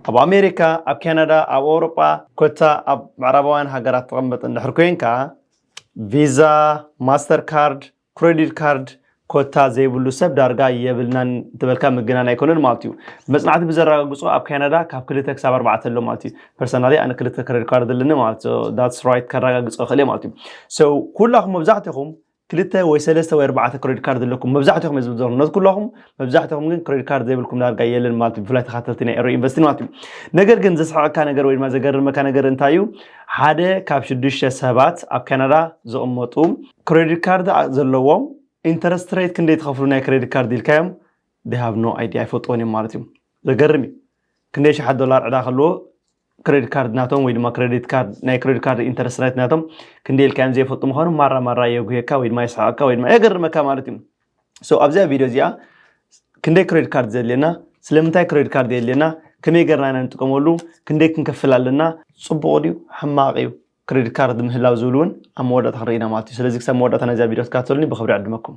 ኣብ ኣሜሪካ፣ ኣብ ካናዳ፣ ኣብ ኣውሮጳ ኮታ ኣብ ምዕራባውያን ሃገራት ትቕመጥ እንድሕር ኮይንካ፣ ቪዛ፣ ማስተር ካርድ፣ ክረዲት ካርድ ኮታ ዘይብሉ ሰብ ዳርጋ የብልናን እንተበልካ ምግናን ኣይኮነን ማለት እዩ። መጽናዕቲ ብዘረጋግጾ ኣብ ካናዳ ካብ ክልተ ክሳብ ኣርባዕተ ኣሎ ማለት እዩ። ፐርሰናሊ ኣነ ክልተ ክረዲት ካርድ ኣለኒ ማለት ዳትስ ራይት ከረጋግጾ እኽእል እየ ማለት እዩ። ሶ ኩላኹም መብዛሕትኹም ክልተ ወይ ሰለስተ ወይ ኣርባዕተ ክሬዲት ካርድ ዘለኩም መብዛሕትኹም ህዝቢ ዞርነት ኩላኹም መብዛሕትኹም ግን ክሬዲት ካርድ ዘይብልኩም ዳርጋ የለን ማለት እዩ ብፍላይ ተኻተልቲ ናይ ኤሮ ኢንቨስቲ ማለት እዩ ነገር ግን ዘስሕቀካ ነገር ወይ ድማ ዘገርመካ ነገር እንታይ እዩ ሓደ ካብ ሽዱሽተ ሰባት ኣብ ካናዳ ዝቕመጡ ክሬዲት ካርድ ዘለዎም ኢንተረስት ሬት ክንደይ ትኸፍሉ ናይ ክሬዲት ካርድ ኢልካዮም ዴሃቭ ኖ ኣይዲ ኣይፈልጥዎን እዮም ማለት እዩ ዘገርም እዩ ክንደይ ሸሓት ዶላር ዕዳ ከለዎ ክሬዲት ካርድ ናቶም ወይ ድማ ክሬዲት ካርድ ናይ ክሬዲት ካርድ ኢንተረስት ሬት ናቶም ክንደይ ኢልካዮም ዘይፈልጡ ምዃኑ ማራ ማራ የጉየካ ወይ ድማ የስሓቀካ ወይ ድማ የገርመካ ማለት እዩ ሶ ኣብዚኣ ቪድዮ እዚኣ ክንደይ ክሬዲት ካርድ ዘድልየና ስለምንታይ ክሬዲት ካርድ የድልየና ከመይ ገርና ኢና ንጥቀመሉ ክንደይ ክንከፍል ኣለና ፅቡቅ ድዩ ሕማቅ እዩ ክሬዲት ካርድ ምህላው ዝብል እውን ኣብ መወዳእታ ክንርኢ ኢና ማለት እዩ ስለዚ ክሳብ መወዳእታ ናይዛ ቪድዮ ትከታተሉኒ ብክብሪ ዕድመኩም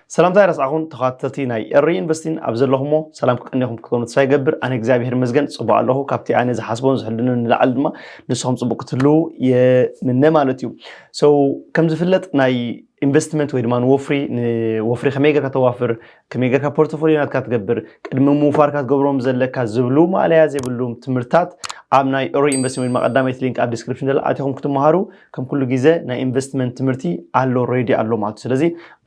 ሰላምታ ኣይረስዓኹን ተኸታተልቲ ናይ ኤሪ ኢንቨስቲን ኣብ ዘለኹሞ ሰላም ክቀንየኹም ክትኮኑ ተስፋ ይገብር ኣነ እግዚኣብሄር ይመስገን ጽቡቅ ኣለኹ ካብቲ ኣነ ዝሓስቦን ዝሕልኖን ንላዕሊ ድማ ንስኹም ጽቡቅ ክትህልዉ የምነ ማለት እዩ ሶ ከም ዝፍለጥ ናይ ኢንቨስትመንት ወይ ድማ ንወፍሪ ንወፍሪ ከመይ ጌርካ ተዋፍር ከመይ ጌርካ ፖርቶፎሊዮ ናትካ ትገብር ቅድሚ ምውፋርካ ትገብሮም ዘለካ ዝብሉ ማእለያ ዘይብሉም ትምህርታት ኣብ ናይ ኦሮ ኢንቨስትመንት ወይ ድማ ቀዳመይቲ ሊንክ ኣብ ዲስክሪፕሽን ዘላ ኣቲኹም ክትመሃሩ ከም ኩሉ ግዜ ናይ ኢንቨስትመንት ትምህርቲ ኣሎ ሬዲ ኣሎ ማለት እዩ ስለዚ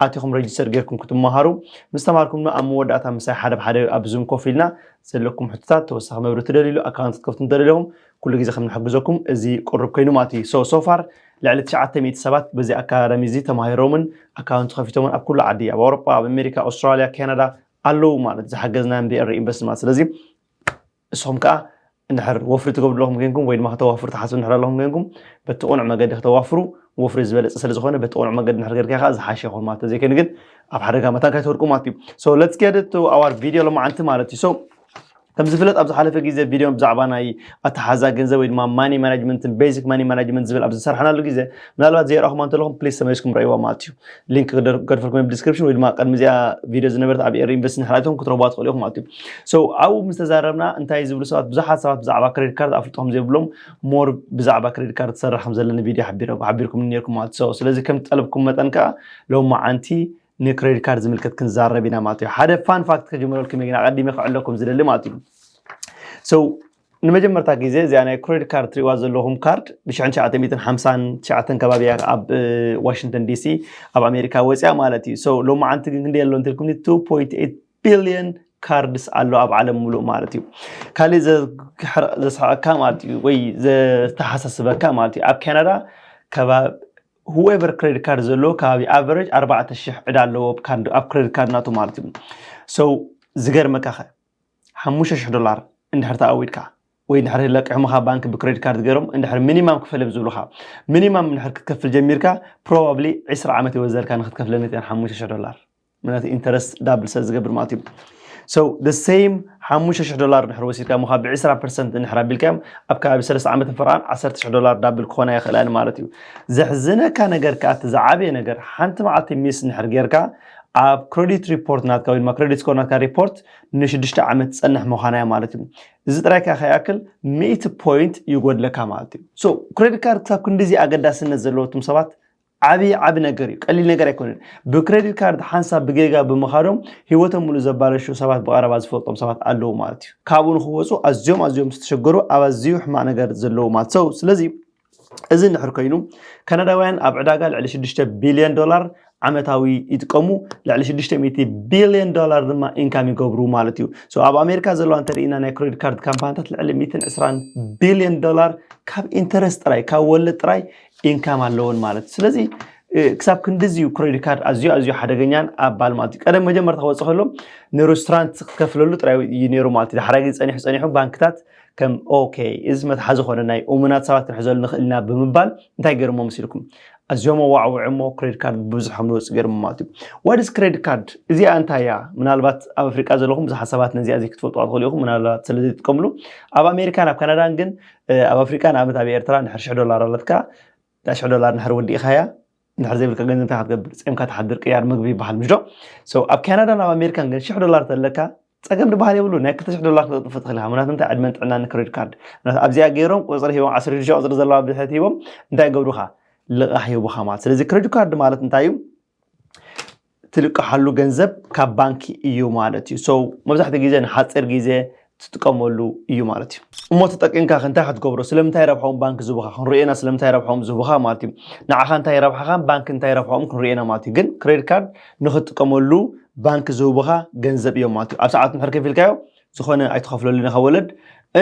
ኣቲኹም ረጅስተር ጌርኩም ክትመሃሩ ምስ ተማሃርኩም ድማ ኣብ መወዳእታ ምሳይ ሓደ ብሓደ ኣብ ዙም ኮፍ ኢልና ዘለኩም ሕቶታት ተወሳኺ መብሪ ትደልይሉ ኣካውንት ክትከፍቱ እንተደለኹም ኩሉ ግዜ ከም ንሕግዘኩም እዚ ቅሩብ ኮይኑ ማለት እዩ ሶ ሶፋር ልዕሊ 900 ሰባት በዚ ኣካዳሚ እዚ ተማሂሮምን ኣካውንቲ ከፊቶምን ኣብ ኩሉ ዓዲ ኣብ ኣውሮጳ ኣብ ኣሜሪካ ኣውስትራልያ ካናዳ ኣለዉ ማለት ዝሓገዝናዮም ብኤሪ ኢንቨስት ማለት ስለዚ ንስኹም ከኣ እንድሕር ወፍሪ ትገብሩ ኣለኹም ኴንኩም ወይ ድማ ከተዋፍሩ ትሓስቡ እንድሕር ኣለኹም ኴንኩም በቲ ቅኑዕ መገዲ ከተዋፍሩ ወፍሪ ዝበለጸ ስለ ዝኾነ በቲ ቅኑዕ መገዲ እንድሕር ጌርካዮ ከኣ ዝሓሸ ይኸውን ማለት እዩ ተዘይ ኮይኑ ግን ኣብ ሓደጋ መታን ከይትወድቁ ማለት እዩ so let's get it to our video ሎማዓንቲ ማለት እዩ so ከም ዝፍለጥ ኣብ ዝሓለፈ ግዜ ቪድዮ ብዛዕባ ናይ ኣተሓዛ ገንዘብ ወይ ድማ ማኒ ማናጅመንትን ቤዚክ ማኒ ማናጅመንት ዝብል ኣብ ዝሰርሓናሉ ግዜ ምናልባት ዘይረኣኹማ እንተለኹም ፕሊስ ተመሊስኩም ረእይዋ ማለት እዩ ሊንክ ገድፈልኩም ብ ዲስክሪፕሽን ወይ ድማ ቅድሚ እዚኣ ቪድዮ ዝነበረት ኣብ ኤር ኢንቨስት ንክላይቶም ክትረብዋ ትኽእሉ ኢኹም ማለት እዩ ሶ ኣብኡ ምስ ተዛረብና እንታይ ዝብሉ ሰባት ብዙሓት ሰባት ብዛዕባ ክሬዲት ካርድ ኣፍልጦ ከም ዘይብሎም ሞር ብዛዕባ ክሬዲት ካርድ ትሰርሕ ከም ዘለኒ ቪድዮ ሓቢርኩም ነርኩም ማለት እዩ ስለዚ ከም ጠለብኩም መጠን ከዓ ሎማዓንቲ ንክሬዲት ካርድ ዝምልከት ክንዛረብ ኢና ማለት እዩ ሓደ ፋን ፋክት ከጀምረልኩም እየ ግን ኣቐዲመ ክዕለኩም ዝደሊ ማለት እዩ ሶ ንመጀመርታ ግዜ እዚኣ ናይ ክሬዲት ካርድ ትሪእዋ ዘለኹም ካርድ ብ1959 ከባቢ እያ ኣብ ዋሽንግተን ዲሲ ኣብ ኣሜሪካ ወፅያ ማለት እዩ ሰው ሎሚ ዓንቲ ግን ክንደይ ኣሎ እንትልኩም 2.8 ቢልዮን ካርድስ ኣሎ ኣብ ዓለም ሙሉእ ማለት እዩ ካልእ ዘስሕቀካ ማለት እዩ ወይ ዘተሓሳስበካ ማለት እዩ ኣብ ካናዳ ከባቢ ሁዌቨር ክሬዲት ካርድ ዘለዎ ከባቢ ኣቨሬጅ ኣርባዕተ ሽሕ ዕዳ ኣለዎ ኣብ ክሬዲት ካርድ ናቱ ማለት እዩ ሰው ዝገርመካ ኸ ሓሙሽተ ሽሕ ዶላር እንድሕር ተኣዊድካ ወይ እንድሕር ለቂሖምኻ ባንኪ ብክሬዲት ካርድ ገይሮም እንድሕር ሚኒማም ክፈል እዮም ዝብሉኻ ሚኒማም እንድሕር ክትከፍል ጀሚርካ ፕሮባብሊ ዕስራ ዓመት ይወዘልካ ንክትከፍለኒ እተን ሓሙሽተ ሽሕ ዶላር ምክንያቱ ኢንተረስት ዳብል ስለ ዝገብር ማለት እዩ so the same ሓሙሽተ ሽሕ ዶላር እንድሕር ወሲድካ እሞ ካብ ብዕስራ ፐርሰንት እንድሕር ኣቢልካዮም ኣብ ከባቢ ሰለስተ ዓመት ንፈርቓን ዓሰርተ ሽሕ ዶላር ዳብል ክኾና ይኽእላ እየን ማለት እዩ ዘሕዝነካ ነገር ከኣ እቲ ዝዓበየ ነገር ሓንቲ መዓልቲ ሚስ እንድሕር ጌርካ ኣብ ክሬዲት ሪፖርት ናትካ ወይ ድማ ክሬዲት ስኮር ናትካ ሪፖርት ንሽዱሽተ ዓመት ትፀንሕ ምዃና እያ ማለት እዩ እዚ ጥራይ ከ ከይኣክል ሚእቲ ፖይንት ይጎድለካ ማለት እዩ ሶ ክሬዲት ካርድ ክሳብ ክንዲዚ ኣገዳስነት ዘለዎ እቱም ሰባት ዓብዪ ዓብ ነገር እዩ ቀሊል ነገር ኣይኮነን ብክሬዲት ካርድ ሓንሳብ ብጌጋ ብምኻዶም ሂወቶም ሙሉ ዘባለሹ ሰባት ብቐረባ ዝፈልጦም ሰባት ኣለዉ ማለት እዩ ካብኡ ንክወፁ ኣዝዮም ኣዝዮም ዝተሸገሩ ኣብ ኣዝዩ ሕማቅ ነገር ዘለዉ ማለት ሰው ስለዚ እዚ እንድሕር ኮይኑ ካናዳውያን ኣብ ዕዳጋ ልዕሊ 6 ቢልዮን ዶላር ዓመታዊ ይጥቀሙ ልዕሊ 600 ቢልዮን ዶላር ድማ ኢንካም ይገብሩ ማለት እዩ ሶ ኣብ ኣሜሪካ ዘለዋ እንተርኢና ናይ ክሬዲት ካርድ ካምፓኒታት ልዕሊ 120 ቢልዮን ዶላር ካብ ኢንተረስት ጥራይ ካብ ወለድ ጥራይ ኢንካም ኣለወን ማለት እዩ ስለዚ ክሳብ ክንዲዚ እዩ ክሬዲት ካርድ ኣዝዩ ኣዝዩ ሓደገኛን ኣባል ማለት እዩ ቀደም መጀመርታ ክወፅእ ከሎ ንሬስቶራንት ክትከፍለሉ ጥራይ እዩ ነይሩ ማለት እዩ ዳሕራይ ግን ፀኒሑ ፀኒሑ ባንክታት ከም ኦኬ እዚ መትሓዚ ኮነ ናይ እሙናት ሰባት ክንሕዘሉ ንኽእል ኢና ብምባል እንታይ ገርሞ መሲልኩም ኣዝዮም ኣዋዕውዕ እሞ ክሬድ ካርድ ብብዙሕ ከም ዝወፅእ ገርሞ ማለት እዩ ዋድስ ክሬድ ካርድ እዚኣ እንታይ እያ ምናልባት ኣብ ኣፍሪቃ ዘለኹም ብዙሓት ሰባት ነዚኣ እዚ ክትፈልጥዋ ትኽእሉ ኢኹም ምናልባት ስለ ዘይትጥቀምሉ ኣብ ኣሜሪካን ኣብ ካናዳን ግን ኣብ ኣፍሪቃ ንኣብነት ኣብ ኤርትራ ንድሕር ሽሕ ዶላር ኣለትካ እታ ሽሕ ዶላር ንድሕር ወዲእኻያ እንድሕር ዘይብልካ ገንዘብ እንታይ ክትገብር ፀምካ ትሓድር ቅያር ምግቢ ይበሃል ምሽ ዶ ኣብ ካናዳን ኣብ ኣሜሪካን ግን ሽሕ ዶላር ተለካ ጸገም ድበሃል የብሉን ናይ ክልተ ሽሕ ዶላር ክተጥፍእ ትኽእል ኢኻ ምክንያቱ እንታይ ዕድመን ጥዕናን ንክሬዲት ካርድ ምክንያቱ ኣብዚኣ ገይሮም ቁጽሪ ሂቦም ዓሰርተ ሽዱሽተ ቁጽሪ ዘለዋ ብድሕሪት ሂቦም እንታይ ይገብሩኻ ልቓሕ ይህቡኻ ማለት ስለዚ ክሬዲት ካርድ ማለት እንታይ እዩ ትልቅሓሉ ገንዘብ ካብ ባንኪ እዩ ማለት እዩ ሰው መብዛሕትኡ ግዜ ንሓፂር ግዜ ትጥቀመሉ እዩ ማለት እዩ እሞ ተጠቂምካ እንታይ ክትገብሮ ስለምንታይ ረብሖም ባንክ ዝቡኻ ክንሪኤና ስለምንታይ ረብሖም ዝቡኻ ማለት እዩ ንዓኻ እንታይ ረብሓኻን ባንክ እንታይ ረብሖም ክንሪኤና ማለት እዩ ግን ክሬዲት ካርድ ንክትጥቀመሉ ባንክ ዝህቡኻ ገንዘብ እዮም ማለት እዩ ኣብ ሰዓቱ እንድሕር ከፊልካዮ ዝኾነ ኣይትኸፍለሉን ኢኻ ወለድ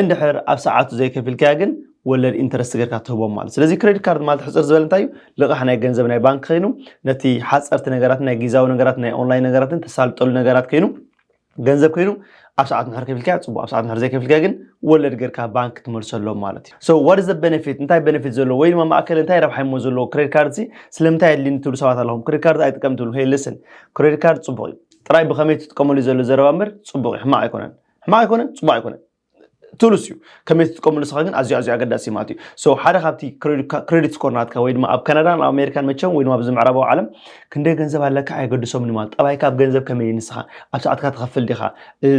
እንድሕር ኣብ ሰዓቱ ዘይከፊልካያ ግን ወለድ ኢንተረስት ጌርካ ትህቦም ማለት ስለዚ ክሬዲት ካርድ ማለት ሕፅር ዝበለ እንታይ እዩ ልቓሕ ናይ ገንዘብ ናይ ባንክ ኮይኑ ነቲ ሓፀርቲ ነገራት ናይ ጊዛዊ ነገራት ናይ ኦንላይን ነገራትን ተሳልጠሉ ነገራት ኮይኑ ገንዘብ ኮይኑ ኣብ ሰዓት ምሕር ከፊልካዮ ጽቡቅ ኣብ ሰዓት ምሕር ዘይከፊልካዮ ግን ወለድ ገርካ ባንክ ትመልሰሎም ማለት እዩ so what is the benefit እንታይ benefit ዘለዎ ወይ ድማ ማእከል እንታይ ረብሓ ይሞ ዘለዎ ክሬዲት ካርድ ሲ ስለምንታይ ኣድልኒ ትብሉ ሰባት ኣለኹም ክሬዲት ካርድ ኣይጥቀም ትብሉ hey listen ክሬዲት ካርድ ጽቡቅ እዩ ጥራይ ብኸመይ ትጥቀመሉ ዘሎ ዘረባ እምበር ጽቡቅ እዩ ሕማቅ ኣይኮነን ሕማቅ ኣይኮነን ጽቡቅ ኣይኮነን ትብሉስ እዩ ከመይ ትጥቀሙ ንስኻ ግን ኣዝዩ ኣዝዩ ኣገዳሲ ማለት እዩ ሶ ሓደ ካብቲ ክሬዲት ስኮር ናትካ ወይ ድማ ኣብ ካናዳን ኣብ ኣሜሪካን መቸም ወይ ድማ ኣብዚ ምዕራባዊ ዓለም ክንደይ ገንዘብ ኣለካ ኣየገድሶምን ማለት ጠባይካ ኣብ ገንዘብ ከመይ ንስኻ ኣብ ሰዓትካ ትኸፍል ዲኻ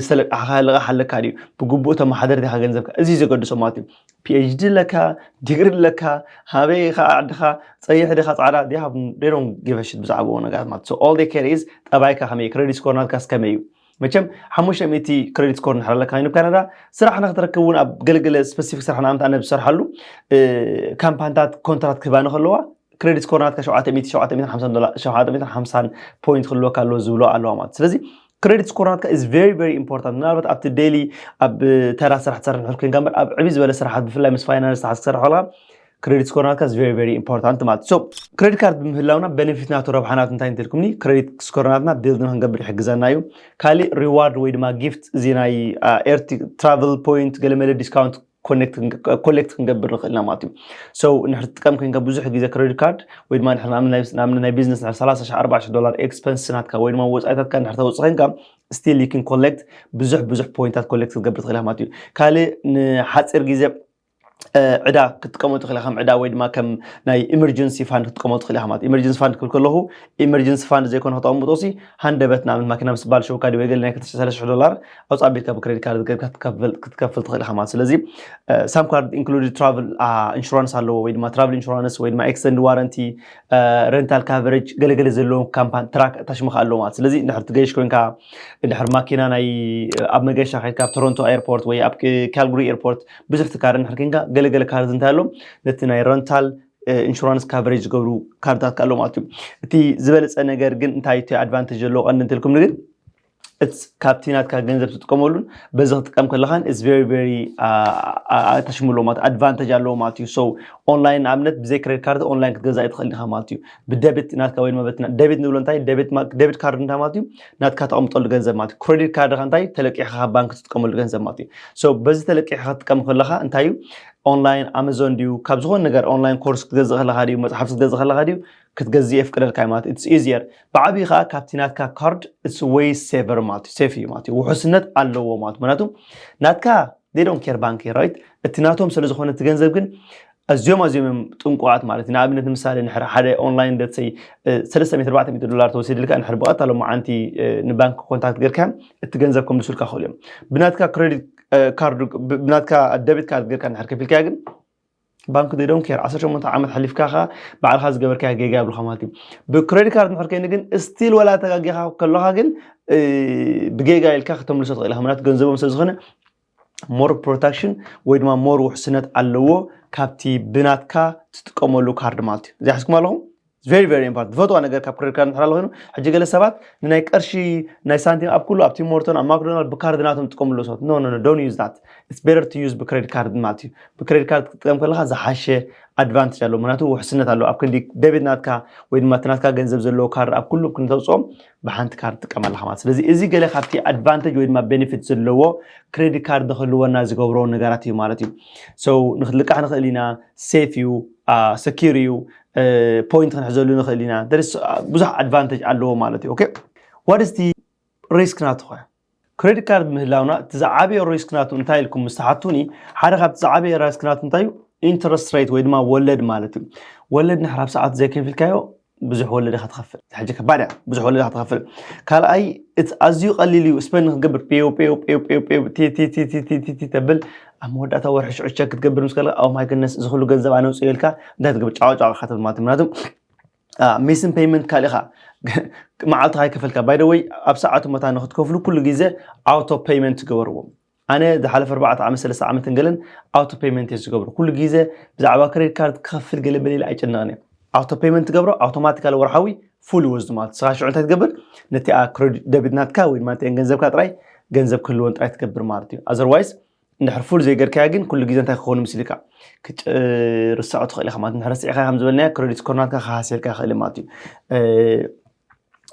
ዝተለቃሕኻ ልቓሕ ኣለካ ድዩ ብግቡእ ተመሓደር ዲኻ ገንዘብካ እዚ ዘገድሶ ማለት እዩ ፒኤችዲ ኣለካ ዲግሪ ኣለካ ሃበይ ኢኻ ዓድኻ ፀይሕ ዲኻ ፃዕዳ ዲሃ ዶን ጊቨሽት ብዛዕባዎ ነገራት ማለት ኦል ኬር ኢዝ ጠባይካ ከመይ ክሬዲት ስኮር ናትካስ ከመይ እዩ መቸም ሓሙሽተ ሚእቲ ክሬዲት ስኮር ንድሕር ኣለካ ኮይኑ ካናዳ ስራሕ ንክትረክብ እውን ኣብ ገለገለ ስፐሲፊክ ስራሕ ንኣብነት ኣነ ዝሰርሓሉ ካምፓንታት ኮንትራት ክህባኒ ከለዋ ክሬዲት ስኮር ናትካ ሸውዓተ ሚእቲ ሸውዓተ ሚእትን ሓምሳን ዶላር ሸውዓተ ሚእትን ሓምሳን ፖይንት ክህልወካ ኣለዎ ዝብሎ ኣለዋ ማለት ስለዚ ክሬዲት ስኮር ናትካ ኢዝ ቨሪ ቨሪ ኢምፖርታንት ምናልባት ኣብቲ ዴይሊ ኣብ ተራ ስራሕ ትሰርሕ ንድሕር ኮይንካ እምበር ኣብ ዕብይ ዝበለ ስራሓት ብፍላይ ምስ ፋይናንስ ተሓዝ ክሰርሕ ከለካ ክረዲት ስኮር ናትካ is very very important ማለት so ክረዲት ካርድ ብምህላውና በነፊት ናቱ ረብሓ ናቱ እንታይ እንትልኩምኒ ክረዲት ስኮር ናትና ቢልድ ንክንገብር ይሕግዘና እዩ ካሊእ ሪዋርድ ወይ ድማ ጊፍት እዚ ናይ ኤርቲ ትራቨል ፖይንት ገለመለ ዲስካውንት ኮሌክት ክንገብር ንኽእልና ማለት እዩ ሶ ንሕር ትጥቀም ኮንካ ብዙሕ ግዜ ክሬዲት ካርድ ወይ ድማ ንኣብነት ናይ ቢዝነስ ን 30 40 ዶላር ኤክስፐንስ ናትካ ወይ ድማ ወፃኢታትካ ንድሕር ተውፅእ ኮንካ ስቲል ዩ ኮሌክት ብዙሕ ብዙሕ ፖይንታት ኮሌክት ክትገብር ትኽእል ማለት እዩ ካልእ ንሓፂር ግዜ ዕዳ ክትጥቀመሉ ትኽእል ከም ዕዳ ወይ ድማ ከም ናይ ኢመርጀንሲ ፋንድ ክትጥቀመሉ ትኽእል ኢኻ ማለት ኢመርጀንሲ ፋንድ ክብል ከለኹ ኢመርጀንሲ ፋንድ ዘይኮነ ከተቐምጦ ሲ ሃንደበት ንኣብነት ማኪና ምስ ባልሸውካ ወይ ገለ ናይ ክልተ ሰለስተ ሽሕ ዶላር ኣውፅ ኣቢልካ ብክሬዲት ካርድ ጌርካ ክትከፍል ትኽእል ኢኻ ማለት ስለዚ ሳም ካርድ ኢንክሉድ ትራቭል ኢንሹራንስ ኣለዎ ወይ ድማ ትራቭል ኢንሹራንስ ወይ ድማ ኤክስተንድ ዋረንቲ ረንታል ካቨሬጅ ገለገለ ዘለዎም ካምፓኒ ትራክ ታሽምካ ኣለዎ ማለት ስለዚ እንድሕር ትገይሽ ኮንካ እንድሕር ማኪና ናይ ኣብ መገሻ ከይድካ ኣብ ቶሮንቶ ኤርፖርት ወይ ኣብ ካልግሪ ኤርፖርት ብዝሕቲ ካርድ እንድሕር ኮንካ ገለ ገለ ካርድ እንታይ ኣሎ ነቲ ናይ ረንታል ኢንሹራንስ ካቨሬጅ ዝገብሩ ካርድታት ከ ኣሎ ማለት እዩ እቲ ዝበለፀ ነገር ግን እንታይ እቲ ኣድቫንቴጅ ዘለዎ ቀንዲ እንትልኩም ግን ካብቲ ናትካ ገንዘብ ትጥቀመሉን በዚ ክጥቀም ከለኻን ኢስ ቨሪ ቨሪ ኣታሽሙ ኣለዎ ማለት ኣድቫንቴጅ ኣለዎ ማለት እዩ ሰው ኦንላይን ንኣብነት ብዘይ ክሬዲት ካርድ ኦንላይን ክትገዛእ ይትኽእል ኢኻ ማለት እዩ ብደቢት ናትካ ወይ ድማ በቲ ደቢት ንብሎ እንታይ ደቢት ካርድ እንታይ ማለት እዩ ናትካ ተቐምጠሉ ገንዘብ ማለት እዩ ክሬዲት ካርድካ እንታይ ተለቂሕካ ካብ ባንክ ትጥቀመሉ ገንዘብ ማለት እዩ ሶ በዚ ተለቂሕካ ክትጥቀም ከለኻ እንታይ እዩ ኦንላይን ኣማዞን ድዩ ካብ ዝኾነ ነገር ኦንላይን ኮርስ ክትገዝእ ከለኻ ድዩ መፅሓፍቲ ክትገዝእ ከለኻ ድዩ ክትገዝእ የፍቅደልካ እዩ ማለት ኢትስ ኢዚየር ብዓብዪ ከዓ ካብቲ ናትካ ካርድ ኢትስ ወይ ሴቨር ማለት እዩ ሴፍ እዩ ማለት እዩ ውሑስነት ኣለዎ ማለት ምክንያቱ ናትካ they don't care ባንኪ right እቲ ናቶም ስለ ዝኾነ እቲ ገንዘብ ግን ኣዝዮም ኣዝዮም እዮም ጥንቁቓት ማለት እዩ ንኣብነት ንምሳሌ ንሕር ሓደ ኦንላይን ደትሰይ ሰለስተ ሚእቲ ኣርባዕተ ሚእቲ ዶላር ተወሲድልካ ንሕር ብቐጥታ ሎመዓንቲ ንባንኪ ኮንታክት ጌርካ እቲ ገንዘብ ከምልሱልካ ክኽእሉ እዮም ብናትካ ክሬዲት ካርድ ብናትካ ደቢት ካርድ ጌርካ ንሕር ከፊልካዮ ግን ባንክ they don't care ዓሰርተ ሸሞንተ ዓመት ሓሊፍካ ከኣ ባዕልካ ዝገበርካዮ ጌጋ የብልካ ማለት እዩ ብክሬዲት ካርድ እንድሕር ኮይኑ ግን ስቲል ወላ ተጋጊኻ ከለካ ግን እ፣ ብጌጋ ኢልካ ከተምልሶ ትኽእል ኢኻ ምክንያቱ ገንዘቦም ስለ ዝኾነ ሞር ፕሮታክሽን ወይ ድማ ሞር ውሕስነት ኣለዎ ካብቲ ብናትካ ትጥቀመሉ ካርድ ማለት እዩ እዚኣ ሕዝኩም ኣለኹም ቨሪ ቨሪ ኢምፖርታንት ዝፈትዋ ነገር ካብ ክሬዲት ካርድ ምሕላል ኮይኑ ሕጂ ገለ ሰባት ንናይ ቀርሺ ናይ ሳንቲም ኣብ ኩሉ ኣብ ቲም ሞርቶን ኣብ ማክዶናልድ ብካርድ ናቶም ዝጥቀምሉ ሰባት ኖ ኖ ዶን ዩዝ ዳት ኢትስ ቤተር ቱ ዩዝ ብክሬዲት ካርድ ማለት እዩ ብክሬዲት ካርድ ክትጥቀም ከለካ ዝሓሸ ኣድቫንቴጅ ኣለዎ ምክንያቱ ውሕስነት ኣለዎ ኣብ ክንዲ ደቤት ናትካ ወይ ድማ እቲ ናትካ ገንዘብ ዘለዎ ካርድ ኣብ ኩሉ ክንተውፅኦም ብሓንቲ ካርድ ትጥቀም ኣለካ ማለት ስለዚ እዚ ገለ ካብቲ ኣድቫንቴጅ ወይ ድማ ቤኔፊት ዘለዎ ክሬዲት ካርድ ንክህልወና ዝገብሮ ነገራት እዩ ማለት እዩ ሰው ንክትልቃሕ ንክእል ኢና ሴፍ እዩ ሰኪር እዩ ፖይንት ክንሕዘሉ ንኽእል ኢና ብዙሕ ኣድቫንቴጅ ኣለዎ ማለት እዩ ዋት ስቲ ሪስክ ናቱ ኸ ክሬዲት ካርድ ምህላውና እቲ ዝዓበየ ሪስክ ናቱ እንታይ ኢልኩም ምስ ትሓቱኒ ሓደ ካብቲ ዝዓበየ ሪስክ ናቱ እንታይ እዩ ኢንተረስት ሬት ወይ ድማ ወለድ ማለት እዩ ወለድ ንሕራብ ሰዓት ዘይከፊልካዮ ብዙሕ ወለድ ኢኻ ትኸፍል ሕጂ ከባድ እያ ብዙሕ ወለድ ኢኻ ትኸፍል ካልኣይ እቲ ኣዝዩ ቀሊል እዩ ስፐን ክትገብር ፔው ፔው ፔው ፔው ፔው ቲቲቲቲቲቲ ተብል ኣብ መወዳእታ ወርሒ ሽዑ ቸክ ክትገብር ምስ ከለካ ኦ ማይ ገነስ እዚ ኩሉ ገንዘብ ኣነ ውፅእ ኢልካ እንታይ ትገብር ጫዋጫዋ ኢኻ ትብል ማለት ምክንያቱ ሜስን ፔይመንት ካልእ ኢኻ መዓልትኻ ይከፈልካ ባይ ደወይ ኣብ ሰዓቱ መታ ንክትከፍሉ ኩሉ ግዜ ኣውቶ ፔይመንት ገበርዎም ኣነ ዝሓለፈ ኣርባዕተ ዓመት ሰለስተ ዓመትን ገለን ኣውቶ ፔመንት እየ ዝገብሮ ኩሉ ግዜ ብዛዕባ ክሬዲት ካርድ ክኸፍል ገለ በለ ኢለ ኣይጭነቕን እየ ኣውቶ ፔመንት ትገብሮ ኣውቶማቲካሊ ወርሓዊ ፉል ይወስዱ ማለት ስኻ ሽዑ እንታይ ትገብር ነቲኣ ክሬዲት ደቢት ናትካ ወይ ድማ እተን ገንዘብካ ጥራይ ገንዘብ ክህልወን ጥራይ ትገብር ማለት እዩ ኣዘርዋይስ እንድሕር ፉል ዘይገርካያ ግን ኩሉ ግዜ እንታይ ክኸውን ምስ ኢልካ ክትርሳዑ ትኽእል ኢኻ ማለት ንድሕር ስዒኻ ከም ዝበልናዮ ክሬዲት ስኮር ናትካ ክሃስየልካ ይኽእል ማለት እዩ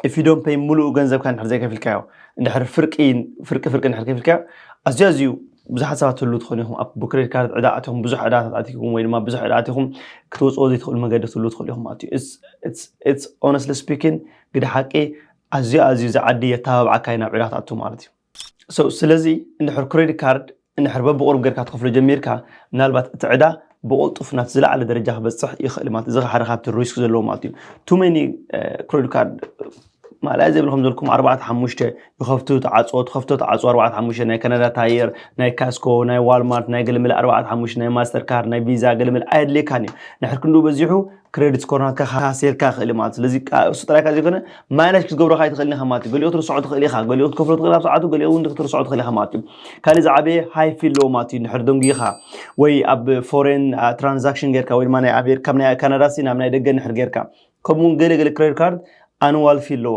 if you don't pay ሙሉኡ ገንዘብካ እንድሕር ዘይከፊልካዮ እንድሕር ፍርቂ ፍርቂ ፍርቂ እንድሕር ከፊልካዮ ኣዝዩ ኣዝዩ ብዙሓት ሰባት ትህሉ ትኾኑ ኢኹም ኣብ ክሬዲት ካርድ ዕዳ ኣትኹም ብዙሕ ዕዳታት ኣትኹም ወይ ድማ ብዙሕ ዕዳ ኣትኹም ክትወፅኦ ዘይትኽእሉ መገዲ ትህሉ ትኽእሉ ኢኹም ማለት እዩ ኦነስትሊ ስፒኪን ግደ ሓቂ ኣዝዩ ኣዝዩ ዝዓዲ የተባብዓካ እዩ ናብ ዕዳ ክትኣቱ ማለት እዩ So ስለዚ እንድሕር ክሬዲት ካርድ እንድሕር በብቑሩብ ጌርካ ትኸፍሎ ጀሚርካ ምናልባት እቲ ዕዳ ብቕልጡፍ ናብቲ ዝለዓለ ደረጃ ክበጽሕ ይኽእል ማለት እዚ ሓደ ካብቲ ሪስክ ዘለዎ ማለት እዩ ቱ መኒ ክሬዲት ካርድ ማለያ ዘይብሉ ከም ዘልኩም ኣርባዕተ ሓሙሽተ ይኸፍቱ ተዓፅዎ ትኸፍቶ ተዓፅዎ ኣርባዕተ ሓሙሽተ ናይ ካናዳ ታየር ናይ ካስኮ ናይ ዋልማርት ናይ ገለመለ ኣርባዕተ ሓሙሽተ ናይ ማስተር ካርድ ናይ ቪዛ ገለመለ ኣየድልየካን እዩ ንሕር ክንዱ በዚሑ ክሬዲት ስኮር ናትካ ካሴርካ ክእል ማለት ስለዚ እሱ ጥራይ ካብ ዘይኮነ ማይነስ ክትገብሮ ካይ ትኽእል ኢኻ ማለት እዩ ገሊኦ ክትርስዖ ትኽእል ኢኻ ገሊኦ ክትከፍሎ ትኽእል ኣብ ሰዓቱ ገሊኦ እውን ክትርስዖ ትኽእል ኢኻ ማለት እዩ ካልእ ዝዓበየ ሃይ ፊ ኣለዎ ማለት እዩ ንድሕር ደንጉኻ ወይ ኣብ ፎሬን ትራንዛክሽን ጌርካ ወይ ድማ ናይ ኣሜሪካ ካብ ናይ ካናዳ ሲ ናብ ናይ ደገ ንድሕር ጌርካ ከምኡውን ገለ ገለ ክሬዲት ካርድ ኣንዋል ፊ ኣለዎ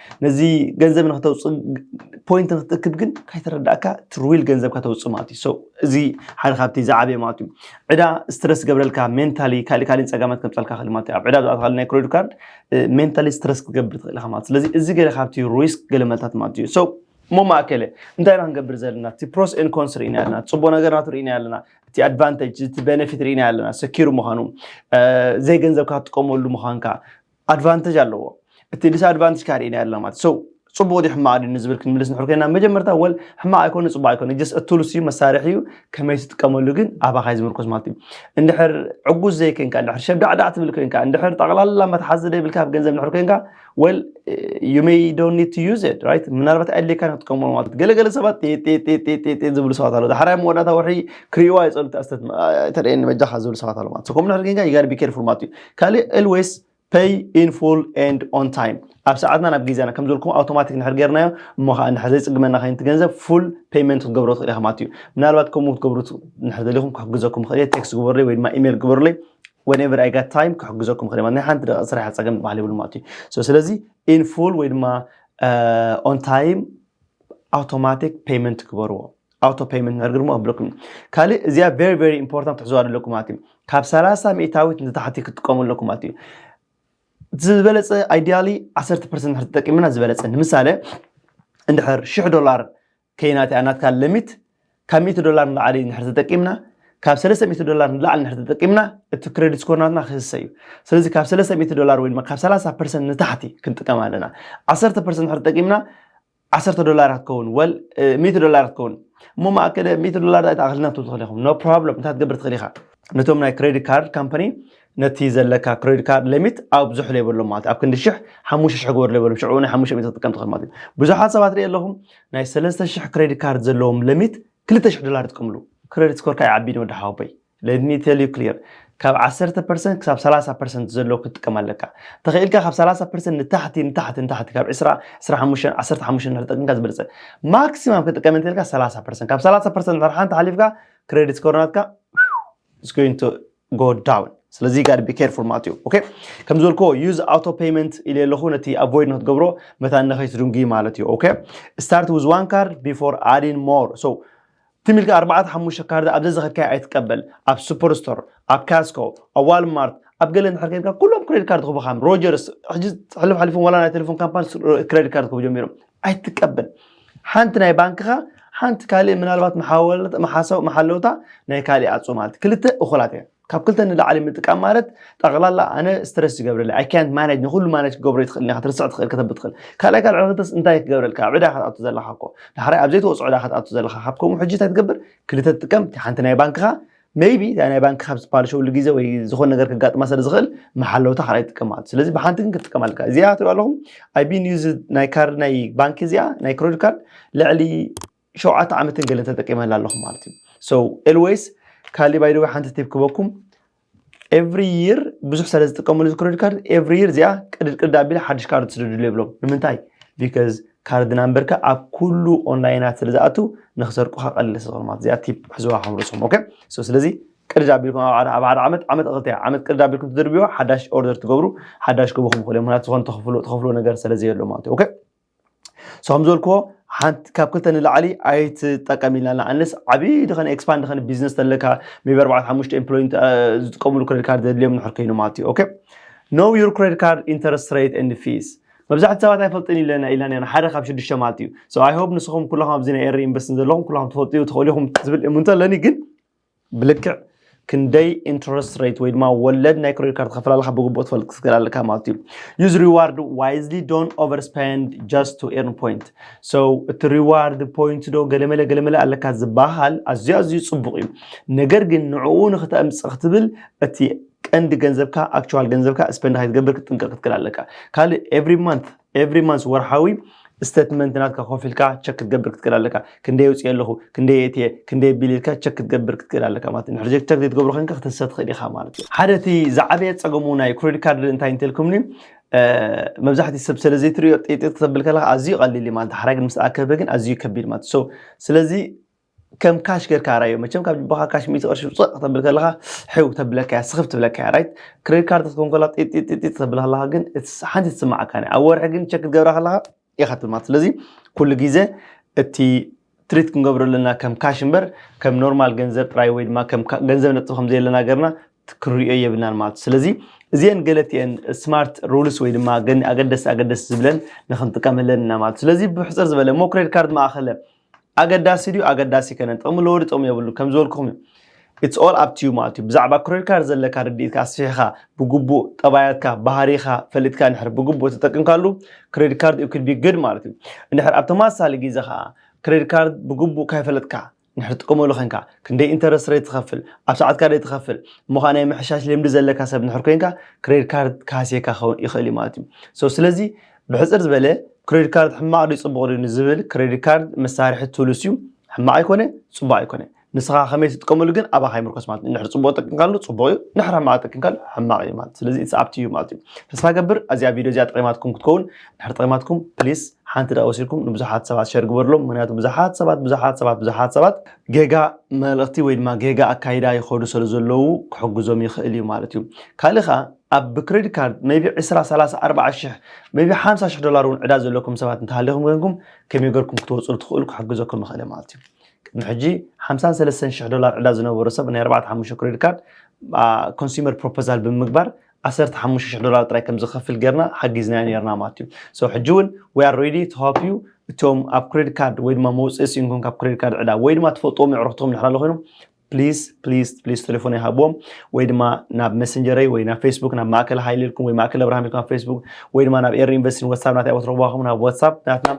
ነዚ ገንዘብ ንክተውፅእ ፖይንት ንክትእክብ ግን ካይተረዳእካ ትርዊል ገንዘብካ ተውፅእ ማለት እዩ ሰው እዚ ሓደ ካብቲ ዝዓበየ ማለት እዩ ዕዳ ስትረስ ገብረልካ ሜንታሊ ካልእ ካልእ ፀጋማት ከምፀልካ ክእል ማለት እዩ ኣብ ዕዳ ብዝኣትካሉ ናይ ክሬዲት ካርድ ሜንታሊ ስትረስ ክትገብር ትኽእል ኢኻ ማለት ስለዚ እዚ ገለ ካብቲ ሪስክ ገለ መልታት ማለት እዩ ሰው እሞ ማእከለ እንታይ ኢና ክንገብር ዘለና እቲ ፕሮስ ኤን ኮንስ ርኢና ኣለና ፅቡቅ ነገር ናቱ ርኢና ኣለና እቲ ኣድቫንቴጅ እቲ ቤነፊት ርኢና ኣለና ሰኪሩ ምዃኑ ዘይገንዘብካ ትጥቀመሉ ምዃንካ ኣድቫንተጅ ኣለዎ እቲ ዲስ ኣድቫንተጅ ካኣ ሪኢናዮ ኣለና ማለት ሶ ጽቡቅ ድዩ ሕማቅ ድዩ ንዝብል ክንምልስ ንድሕር ኮይና መጀመርታ ወል ሕማቅ ኣይኮነ ጽቡቅ ኣይኮነ ጀስት እቱልስ እዩ መሳርሒ እዩ ከመይ ትጥቀመሉ ግን ኣባካ እዩ ዝምርኮስ ማለት እዩ እንድሕር ዕጉስ ዘይኮንካ እንድሕር ሸብዳዕዳዕ ትብል ኮይንካ እንድሕር ጠቅላላ መትሓዚ ዘይብልካ ኣብ ገንዘብ እንድሕር ኮይንካ ወል ዩ ሜይ ዶንት ኒድ ቱ ዩዝ ኢት ራይት ምናልባት ኣድልየካ ክትጥቀመሉ ማለት እዩ ገለገለ ሰባት ጤጤጤጤጤ ዝብሉ ሰባት ኣለዉ ዳሕራይ መወዳእታ ወርሒ ክርእይዋ ይጸሉ ተርእየኒ በጃካ ዝብሉ ሰባት ኣለዉ ማለት እዩ ከምኡ እንድሕር ኮይንካ ዩ ጋር ቢ ኬርፉል ማለት እዩ ካልእ ኤልዌስ ፐይ ኢን ፉል ኤንድ ኦን ታይም ኣብ ሰዓትና ናብ ግዜና ከም ዝበልኩም ኣውቶማቲክ ንድሕር ጌርናዮ እሞ ከዓ ንድሕር ዘይፅግመና ከይንቲ ገንዘብ ፉል ፔይመንት ክትገብሮ ትኽእል ኢኻ ማለት እዩ ምናልባት ከምኡ ክትገብሩ ንድሕር ደሊኹም ክሕግዘኩም ይኽእል እየ ቴክስት ግበሩለይ ወይ ድማ ኢሜይል ግበሩለይ whenever I got time ክሕግዘኩም ይኽእል ማለት ናይ ሓንቲ ደቂቕ ስራሕ ፀገም ዝበሃል የብሉ ማለት እዩ so ስለዚ in full ወይ ድማ uh, on time automatic payment ግበርዎ ኣውቶ ፐይመንት ነርግ ድማ ኣብለኩም ካልእ እዚኣ ቨሪ ቨሪ ኢምፖርታንት ትሕዝዋ ኣለኩም ማለት እዩ ካብ ሰላሳ ሚእታዊት ንታሕቲ ክትጥቀሙ ኣለኩም ማለት እዩ ዝበለፀ ኣይዲያሊ ዓሰርተ ፐርሰንት ድሕር ተጠቂምና ዝበለፀ ንምሳሌ እንድሕር ሽሕ ዶላር ከይናት እያ ናትካ ለሚት ካብ ሚእቲ ዶላር ንላዕሊ እንድሕር ተጠቂምና ካብ ሰለስተ ሚእቲ ዶላር ንላዕሊ እንድሕር ተጠቂምና እቲ ክሬዲት ስኮርናትና ክህሰ እዩ ስለዚ ካብ ሰለስተ ሚእቲ ዶላር ወይ ድማ ካብ ሰላሳ ፐርሰንት ንታሕቲ ክንጥቀም ኣለና ዓሰርተ ፐርሰንት ድሕር ተጠቂምና ዓሰርተ ዶላር ክትከውን ወል ሚእቲ ዶላር ክትከውን እሞ ማእከለ ሚእቲ ዶላር ዳይ ተኣኽልና ክትብል ትኽእል ኢኹም ኖ ፕሮብለም እንታይ ክትገብር ትኽእል ኢኻ ነቶም ናይ ክሬዲት ካርድ ካምፓኒ ነቲ ዘለካ ክሬዲት ካርድ ሊሚት ኣብዝሑ ለይበሎም ማለት ኣብ ክንዲ ሽሕ ሓሙሽተ ሽሕ ግበር ለይበሎም ሽዑ ናይ ሓሙሽተ ሚእቲ ክትጥቀም ትኽእል ማለት እዩ ብዙሓት ሰባት ርኢ ኣለኹ ናይ ሰለስተ ሽሕ ክሬዲት ካርድ ዘለዎም ሊሚት ክልተ ሽሕ ዶላር ይጥቀምሉ ክሬዲት ስኮርካ ይዓቢ ንወዲ ሓወቦይ Let me tell you clear ካብ ዓሰርተ ፐርሰንት ክሳብ ሰላሳ ፐርሰንት ዘሎ ክትጥቀም ኣለካ ተኽኢልካ ካብ ሰላሳ ፐርሰንት ንታሕቲ ንታሕቲ ንታሕቲ ካብ ዕስራ ዕስራ ሓሙሽተን ዓሰርተ ሓሙሽተን እናተጠቅምካ ዝበለፀ ማክሲማም ክጥቀም እንተልካ ሰላሳ ፐርሰንት ካብ ሰላሳ ፐርሰንት ድሕሪ ሓንቲ ሓሊፍካ ክሬዲት ስኮር ናትካ is going to go down ስለዚ ጋር ቢ ኬርፉል ማለት እዩ ኦኬ ከም ዝበልክዎ ዩዝ ኣውቶ ፔመንት ኢለ ኣለኹ ነቲ ኣቮይድ ንክትገብሮ መታን ንኸይትድንጉ ማለት እዩ ኦኬ ስታርት ዊዝ ዋን ካርድ ቢፎር ኣዲን ሞር ሶ ትም ኢልካ ኣርባዕተ ሓሙሽተ ካርድ ኣብ ዘዘኸድካዮ ኣይትቀበል ኣብ ሱፐር ስቶር ኣብ ካስኮ ኣብ ዋልማርት ኣብ ገለ እንድሕር ከይድካ ኩሎም ክሬዲት ካርድ ክህቡኻ እዮም ሮጀርስ ሕጂ ሕልፍ ሓሊፎም ዋላ ናይ ቴሌፎን ካምፓኒ ክሬዲት ካርድ ክህቡ ጀሚሮም ኣይትቀበል ሓንቲ ናይ ባንክኻ ሓንቲ ካልእ ምናልባት መሓወልት መሓሰው መሓለውታ ናይ ካልእ ኣጹ ማለት ክልተ እኹላት እየን ካብ ክልተ ንላዕሊ ምጥቃም ማለት ጠቕላላ ኣነ ስትረስ ይገብረለይ ኣይ ካንት ማነጅ ንኹሉ ማነጅ ክገብሮ ይትኽእልን ኢኻ ክትርስዕ ትኽእል ከተብት ትኽእል ካልኣይ ካልዕ ክልተስ እንታይ ክገብረልካ ኣብ ዕዳ ክትኣቱ ዘለኻ እኮ ዳሕራይ ኣብ ዘይትወፅኦ ዕዳ ክትኣቱ ዘለኻ ካብ ከምኡ ሕጂ እንታይ ትገብር ክልተ ትጥቀም ሓንቲ ናይ ባንክኻ ሜይቢ እታ ናይ ባንክ ካብ ዝፓልሸውሉ ግዜ ወይ ዝኾነ ነገር ክጋጥማ ስለ ዝኽእል መሓለውታ ካልኣይ ትጥቀም ማለት ስለዚ ብሓንቲ ግን ክትጥቀም ኣለካ እዚኣ ትሪኦ ኣለኹም ኣይ ቢን ዩዝ ናይ ካርድ ናይ ባንኪ እዚኣ ናይ ክሬዲት ካርድ ልዕሊ ሸውዓተ ዓመትን ገለን ተጠቂመላ ኣለኹ ማለት እዩ so ኤልዌይስ ካሊ ባይ ደወይ ሓንቲ ቲፕ ክበኩም ኤቭሪ ይር ብዙሕ ስለ ዝጥቀመሉ እዚ ክሬዲት ካርድ ኤቭሪ ይር እዚኣ ቅድድ ቅድድ ኣቢለ ሓድሽ ካርድ ትስደድሉ የብሎም ንምንታይ ቢካዝ ካርድ ናምበርካ ኣብ ኩሉ ኦንላይናት ስለ ዝኣቱ ንክሰርቁኻ ቀሊል ስለዝኾነ ማለት እዚኣ ቲፕ ሕዝዋ ከም ርእስኹም ኦኬ ስለዚ ቅድድ ኣቢልኩም ኣብ ሓደ ዓመት ዓመት ክልተ ዓመት ቅድድ ኣቢልኩም ትድርብዋ ሓዳሽ ኦርደር ትገብሩ ሓዳሽ ክበኹም ይኽእሉ እዮም ምክንያቱ ዝኾነ ተኽፍሎ ነገር ስለ ዘየሎ ማለት እዩ ኦኬ ሰም ዘልክዎ ሓንቲ ካብ ክልተ ንላዕሊ ኣይትጠቀም ኢልና ኣለና ኣንለስ ዓብዪ ድኸነ ኤክስፓንድ ድኸነ ቢዝነስ ተለካ ሜቢ ኣርባዕተ ሓሙሽተ ኤምፕሎይ ዝጥቀምሉ ክሬዲት ካርድ ዘድልዮም ንሕር ኮይኑ ማለት እዩ ኦኬ ኖ ዩር ክሬዲት ካርድ ኢንተረስት ሬት ኤንድ ፊስ መብዛሕቲ ሰባት ኣይፈልጥን ኢለና ኢላና ኢና ሓደ ካብ ሽዱሽተ ማለት እዩ ሶ ኣይ ሆፕ ንስኹም ኩለኹም ኣብዚ ናይ ኤሪ ኢንቨስትን ዘለኹም ኩለኹም ትፈልጡ ትኽእሉ ኢኹም ዝብል እምንቶ ኣለኒ ግን ብልክዕ ክንደይ ኢንትረስት ሬት ወይ ድማ ወለድ ናይ ክሬዲት ካርድ ትኸፍል ኣለካ ብግቡእ ትፈልጥ ክትገል ኣለካ ማለት እዩ ዩዝ ሪዋርድ ዋይዝሊ ዶን ኦቨር ስፔንድ ጀስት ቱ ኤርን ፖይንት ሶ እቲ ሪዋርድ ፖይንት ዶ ገለመለ ገለመለ ኣለካ ዝበሃል ኣዝዩ ኣዝዩ ፅቡቕ እዩ ነገር ግን ንዕኡ ንክተምፅእ ክትብል እቲ ቀንዲ ገንዘብካ ኣክቹዋል ገንዘብካ ስፔንድ ከይትገብር ክትጥንቀቕ ክትክል ኣለካ ካልእ ኤቭሪ ማንት ኤቭሪ ማንስ ወርሓዊ ስተትመንት ናትካ ኮፍ ኢልካ ቸክ ክትገብር ክትክእል ኣለካ ክንደይ የውፅእ ኣለኹ ክንደይ የእትየ ክንደይ ኣቢል ኢልካ ቸክ ክትገብር ክትክእል ኣለካ ማለት እዩ ንሕሪ ቸክ ዘይትገብሮ ኮይንካ ክትንሰ ትኽእል ኢኻ ማለት እዩ ሓደ እቲ ዝዓበየ ፀገሙ ናይ ክሬዲት ካርድ እንታይ እንተልኩምኒ መብዛሕትኡ ሰብ ስለ ዘይትሪኦ ጤጤጥ ክተብል ከለካ ኣዝዩ ቀሊል እዩ ማለት ሓራይ ግን ምስ ኣከበ ግን ኣዝዩ ከቢድ ማለት ሶ ስለዚ ከም ካሽ ጌርካ ራዮ መቸም ካብ ጅባኻ ካሽ ሚእቲ ቅርሺ ውፅእ ከተብል ከለኻ ሕው ተብለካ እያ ስኽፍ ትብለካ እያ ራይት ክሬዲት ካርድ ክትከውን ከላ ጢጢጢጢ ተብል ከለኻ ግን ሓንቲ ትስማዓካ እያ ኣብ ወርሒ ግን ቸክ ክትገብራ ከለኻ ኢኻ ትብል ማለት ስለዚ ኩሉ ግዜ እቲ ትሪት ክንገብሮ ኣለና ከም ካሽ እምበር ከም ኖርማል ገንዘብ ጥራይ ወይ ድማ ከም ገንዘብ ነጥብ ከም ዘየለና ገርና ክንሪኦ የብልናን ማለት እዩ ስለዚ እዚአን ገለት እየን ስማርት ሩልስ ወይ ድማ ኣገደስቲ ኣገደስቲ ዝብለን ንክንጥቀመለን ኢና ማለት ስለዚ ብሕፅር ዝበለ ሞ ክሬዲት ካርድ ማእኸለ ኣገዳሲ ድዩ ኣገዳሲ ኣይከነን ጥቕሚ ኣለዎ ድዩ ጥቕሚ የብሉን ከም ዝበልኩኹም እዩ ኢትስ ኦል ኣፕ ቲዩ ማለት እዩ ብዛዕባ ክሬዲት ካርድ ዘለካ ርድኢትካ ኣስፊሕኻ ብግቡእ ጠባያትካ ባህሪኻ ፈሊጥካ ንድሕር ብግቡእ ተጠቅምካሉ ክሬዲት ካርድ ዩ ክድ ቢ ግድ ማለት እዩ እንድሕር ኣብ ተመሳሳሊ ግዜ ከዓ ክሬዲት ካርድ ብግቡእ ካይፈለጥካ ንድሕር ትጥቀመሉ ኮንካ ክንደይ ኢንተረስት ሬት ትኸፍል ኣብ ሰዓትካ ደይ ትኸፍል እሞ ከዓ ናይ ምሕሻሽ ልምዲ ዘለካ ሰብ ንድሕር ኮንካ ክሬዲት ካርድ ክሃስየካ ክኸውን ይኽእል እዩ ማለት እዩ ሶ ስለዚ ብሕጽር ዝበለ ክሬዲት ካርድ ሕማቕ ድዩ ጽቡቕ ድዩ ንዝብል ክሬዲት ካርድ መሳርሒ ቱልስ እዩ ሕማቕ ኣይኮነ ጽቡቕ ኣይኮነ ንስኻ ከመይ ትጥቀመሉ ግን ኣባኻ ይምርኮስ ማለት እዩ ንድሕር ጽቡቕ ጠቂምካሉ ጽቡቕ እዩ ንድሕር ሕማቕ ጠቂምካሉ ሕማቕ እዩ ማለት ስለዚ ኢትስ ኣብቲ እዩ ማለት እዩ ተስፋ ገብር ኣዚኣ ቪድዮ እዚኣ ጠቂማትኩም ክትከውን ንድሕር ጠቂማትኩም ፕሊስ ሓንቲ ደቂ ወሲድኩም ንብዙሓት ሰባት ሸር ግበርሎም ምክንያቱ ብዙሓት ሰባት ብዙሓት ሰባት ብዙሓት ሰባት ጌጋ መልእኽቲ ወይ ድማ ጌጋ ኣካይዳ ይኸዱ ስለ ዘለዉ ክሕግዞም ይኽእል እዩ ማለት እዩ ካልእ ከዓ ኣብ ብክረዲት ካርድ maybe ዕስራ ሰላሳ ኣርባዓ ሽሕ maybe ሓምሳ ሽሕ ዶላር እውን ዕዳ ዘለኩም ሰባት እንተሃሊኹም ኮይንኩም ከመይ ገርኩም ክትወጹ ትኽእሉ ክሕግዘኩም ይኽእል ማለት እዩ ቅድሚ ሕጂ ሓምሳን ሰለስተን ሽሕ ዶላር ዕዳ ዝነበሮ ሰብ ናይ ኣርባዕተ ሓሙሽተ ክረዲት ካርድ ኮንሱመር ፕሮፖዛል ብምግባር ዓሰርተ ሓሙሽተ ሽሕ ዶላር ጥራይ ከም ዝኸፍል ጌርና ሓጊዝናዮ ኔርና ማለት እዩ ሶ ሕጂ እውን we are ready to help you እቶም ኣብ ክሬዲት ካርድ ወይ ድማ መውፅኢ ስኢንኩም ካብ ክሬዲት ካርድ ዕዳ ወይ ድማ ትፈልጥዎም የዕሩኽትኩም ድሕር ኣሎ ኮይኖም ፕሊስ ፕሊስ ፕሊስ ቴሌፎን ይሃቦም ወይ ድማ ናብ መሰንጀረይ ወይ ናብ ፌስቡክ ናብ ማእከል ሃይል ኢልኩም ወይ ማእከል ኣብርሃም ኢልኩም ኣብ ፌስቡክ ወይ ድማ ናብ ኤሪ ኢንቨስቲን ዋትሳፕ ናተይ ቦታ ረኽባኹም ናብ ዋትሳፕ ናትና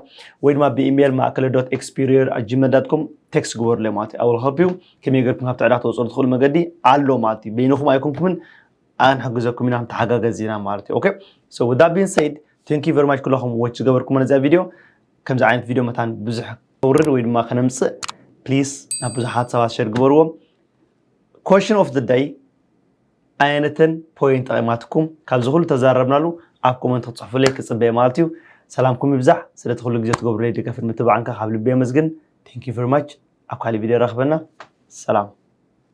ወይ ድማ ብኢሜይል ማእከለ ዶት ኤክስፒሪየር ኣብ ጂመል ዳት ኮም ቴክስት ግበሩለ ማለት እዩ ኣውል ኸፕዩ ከመይ ገርኩም ካብቲ ዕዳ ተወፅኡ ትኽእሉ መገዲ ኣሎ ማለት እዩ በይንኹም ኣይኮንኩምን ኣንሕግዘኩም ኢና ተሓጋገዝ ኢና ማለት እዩ ኦኬ ሶ ዳቢን ሰይድ ቴንክ ዩ ቨሪ ማች ኩላኹም ዎች ዝገበርኩምና እዚኣ ቪድዮ ከምዚ ዓይነት ቪድዮ መታን ብዙሕ ከውርድ ወይ ድማ ከነምፅእ ፕሊስ ናብ ብዙሓት ሰባት ሸር ግበርዎ ኮሽን ኦፍ ዘ ዳይ ኣየነተን ፖይንት ጠቂማትኩም ካብዚ ኩሉ ተዛረብናሉ ኣብ ኮመንት ክትፅሕፉለይ ክፅበየ ማለት እዩ ሰላምኩም ይብዛሕ ስለቲ ኩሉ ግዜ ትገብሩለይ ደገፍን ምትባዕንካ ካብ ልቢ የመስግን ቴንክ ዩ ቨሪ ማች ኣብ ካሊእ ቪድዮ ረክበና ሰላም